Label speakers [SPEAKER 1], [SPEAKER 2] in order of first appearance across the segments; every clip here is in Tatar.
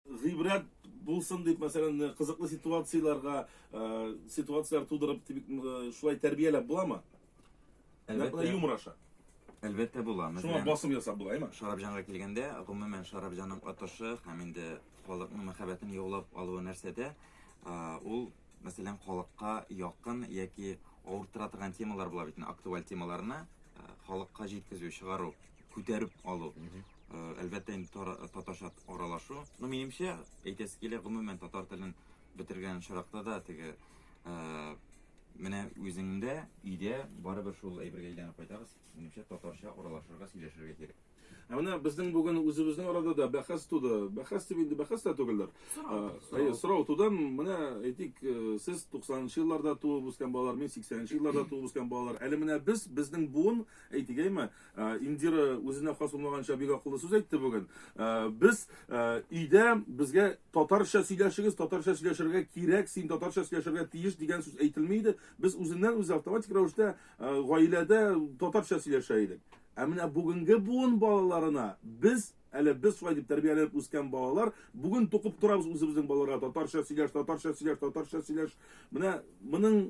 [SPEAKER 1] Гыйбрәт булсын дип, мәсәлән, кызыклы ситуацияләргә, ситуацияләр тудырып, шулай тәрбияләп буламы? Әлбәттә, юмор аша. Әлбәттә була. Шуңа басым ясап була, әйме? Шарабҗанга килгәндә, гомумән Шарабҗанның атышы һәм инде халыкның мәхәббәтен яулап алуы нәрсәдә? Ул, мәсәлән, халыкка якын яки авыртыра торган темалар була бит, актуаль темаларны халыкка җиткезү, чыгару. күтәреп калу. Әлбәттә, инде татарча аралашу. Ну, минемчә, әйтәсе килә, гомумән татар телен бетергән очракта да теге менә үзеңдә, өйдә барыбер шул әйбергә әйләнеп кайтабыз. Минемчә, татарча аралашырга, сөйләшергә кирәк. Ә менә безнең бүген үзебезнең арада да бәхәс туды. Бәхәс дип инде бәхәс тә түгелдер. Әйе, сорау туды. Менә әйтик, сез 90 нчы елларда туып үскән балалар, мин 80 нчы елларда туып үскән балалар. Әле менә без, безнең буын, әйтик, әйме, Ә, Индира үзенә хас булмаганча бик акыллы сүз әйтте бүген. Ә, Без ә, өйдә безгә татарча сөйләшегез, татарча сөйләшергә кирәк, син татарча сөйләшергә тиеш дигән сүз әйтелми иде. Без үзеннән үзе автоматик рәвештә ә, гаиләдә татарча сөйләшә идек. Ә менә бүгенге буын балаларына без Әле без шулай дип тәрбияләнеп үскән балалар, бүген тукып торабыз үзебезнең балаларга татарча сөйләш, татарча сөйләш, татарча сөйләш. Менә моның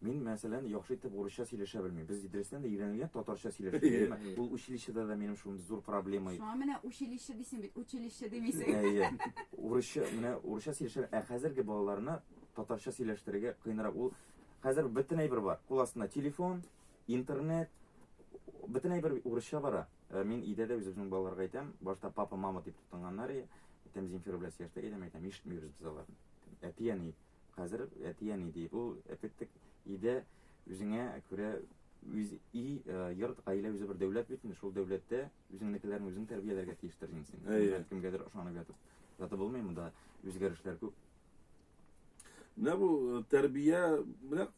[SPEAKER 1] Мин, мәсәлән, яхшы итеп урысча сөйләшә белмим. Без Идрестән дә өйрәнелгән татарча сөйләшүгә, әмма ул училищеда да минем шундый зур проблема иде. Шуңа менә училище дисең бит, училище димисең. Әйе. Урысча, менә урысча сөйләшә, ә хәзерге балаларны татарча сөйләштерергә кыенрак. Ул хәзер бөтен әйбер бар. Кул астында телефон, интернет, бөтен әйбер урысча бара. Мин өйдә дә үзебезнең балаларга әйтәм, башта папа, мама дип тотынганнар иде. Әйтәм, Земфира белән сөйләштек, әйтәм, ишетмибез без аларны. Әти-әни. Хәзер әти-әни ди, бу әтектек идә үзеңә күрә үз и, йорт, гаилә үзе бер дәүләт бит инде, шул дәүләттә үзеңнекеләрне үзең тәрбияләргә тиештер инде син. Әйе. Кемгәдер ышанып ятып. Ятып булмый монда үзгәрешләр күп. Менә бу э, тәрбия, менә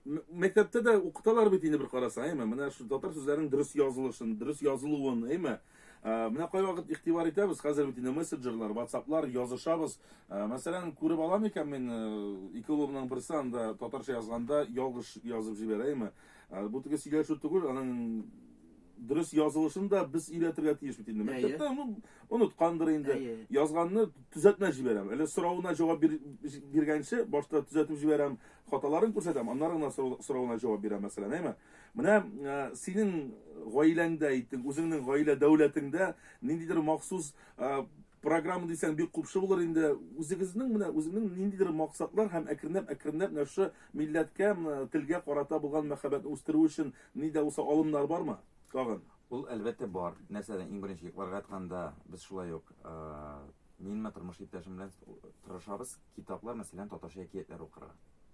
[SPEAKER 1] мәктәптә дә укыталар бит инде бер карасаң, әйме? Менә шу татар сүзләренең дөрес язылышын, дөрес язылуын, әйме? Менә кайвакыт игътибар итәбез, хәзер бит инде мессенджерлар, ватсаплар, язышабыз. Мәсәлән, күреп ала микән мин, ике улымның берсе анда татарча язганда ялгыш язып җибәрәме? Бу теге сөйләшү түгел, аның дөрес язылышын да без өйрәтергә тиеш бит инде. Мәктәптә ну, оныткандыр инде. Язганны төзәтмә җибәрәм. Әле соравына җавап бир, биргәнче башта төзәтеп җибәрәм, хаталарын күрсәтәм, аннары гына соравына җавап бирәм мәсәлән, әйме? Менә э, синең гаиләңдә әйтик, үзеңнең гаилә дәүләтеңдә ниндидер махсус э, программа дисәң бик купшы булыр инде. Үзегезнең менә үзеңнең ниндидер максатлар һәм әкренләп әкренләп менә шушы милләткә, телгә карата булган мәхәббәтне үстерү өчен ни дә булса алымнар бармы? Тагын. Ул әлбәттә бар. Нәрсәдә иң беренче йокларга ятканда без шулай ук э, минме тормыш иптәшем белән тырышабыз. Китаплар, мәсәлән, татарча әкиятләр укырга.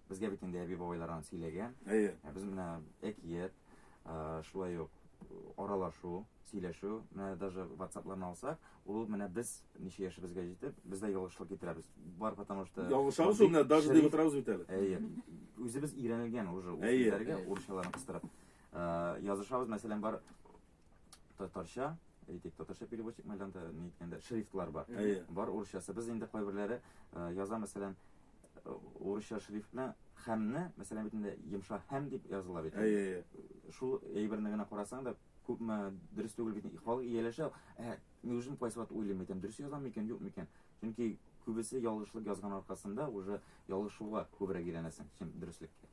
[SPEAKER 1] Безгә бит инде әби-бабайлардан сөйләгән. Әйе. Ә без менә әкият, шулай ук аралашу, сөйләшү, менә даже WhatsApp-ларны алсак, ул менә без ничә яшебезгә җитеп, без дә ялгышлык китерәбез. Бар потому что Ялгышабыз ул менә даже дип утырабыз бит әле. Әйе. Үзебез өйрәнелгән уже ул сүзләргә урысчаларын кыстырып. Язышабыз, мәсәлән, бар татарча, әйтик, татарча переводчик мәйданда ни әйткәндә шрифтлар бар. Әйе. Бар урысчасы. Без инде кайберләре э, яза, мәсәлән, э, урысча шрифт белән хәмне, мәсәлән, бит инде йомшак һәм дип языла бит. Әйе, әйе. Шул әйберне генә карасаң да, күпме дөрес түгел бит. Халык ияләшә, ә мин үзем кайсы вакыт уйлыйм икән, дөрес язам микән, юк микән? Чөнки күбесе ялгышлык язган аркасында уже ялгышуга күбрәк әйләнәсең, чем дөреслеккә.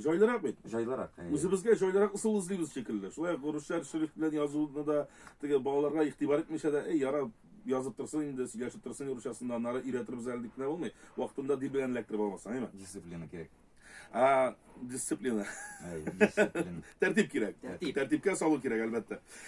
[SPEAKER 1] Җайлырак бит. Җайлырак. Э. Үзебезгә җайлырак ысул эзлибез шикелле. Шулай ук русча шрифт белән язуны да теге балаларга игътибар итмичә дә, эй, яра, язып торсын инде, сөйләшеп торсын русчасында, аннары өйрәтербез әле дип кенә булмый. Вакытында дил белән эләктереп алмасын, әйме? Дисциплина кирәк. А, дисциплина. Дисциплина. Тәртип кирәк. Тәртип. Тәртипкә салу кирәк, әлбәттә.